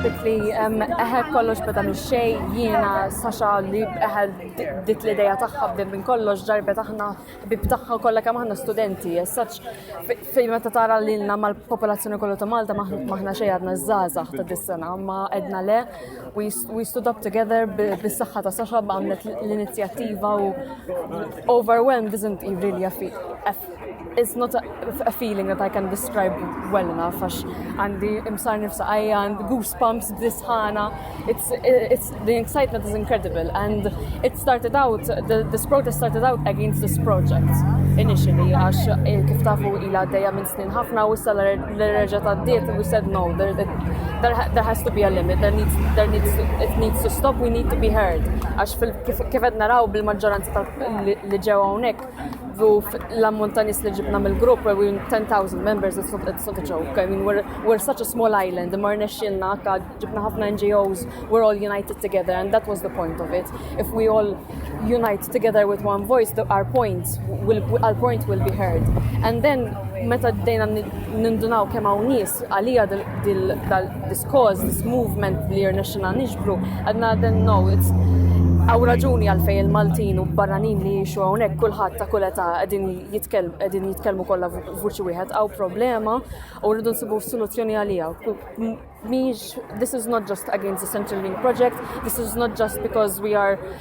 Dik li eħe kollox beda minn xej jiena saxa li eħe dik li dejja tagħha bdem minn kollox ġarbet aħna bib tagħha kollha kemm aħna studenti. Saċ fejn meta tara lilna mal-popolazzjoni kollu ta' Malta maħna xejn għadna żgħażagħ ta' dis-sena ma edna le we stood up together bis-saħħa ta' saxa għamlet l-inizjattiva u overwhelmed isn't really a feat It's not a, a feeling that I can describe well enough, għax għandi imsar nifsa għajja, and goosebumps b'disħana. It's, it's, the excitement is incredible, and it started out, the, this protest started out against this project initially, għax eh, kif tafu ila għaddeja minn snin ħafna u issa l-reġa ta' diet, we said no, there, there, there has to be a limit, there needs, there needs, it needs to stop, we need to be heard. Għax kif għed naraw bil-maġġoranza li ġewa unek, move l-ammont ta' nis li ġibna mill-grupp, we were 10,000 members, it's not, it's not a joke. I mean, we're, we're such a small island, mar nexxinna, ġibna ħafna NGOs, we're all united together, and that was the point of it. If we all unite together with one voice, the, our points will, our point will be heard. And then, meta d-dejna nindunaw kemm hawn nies għalija This cause, this movement li rnexxina niġbru, għadna then no, it's Għaw raġuni għalfej il-Maltin u barranin li jiexu għonek kullħat ta' kull età għedin jitkelmu kollha vuċi wieħed għaw problema u rridu nsibu soluzzjoni għalija. Miex, this is not just against the Central Link project, this is not just because we are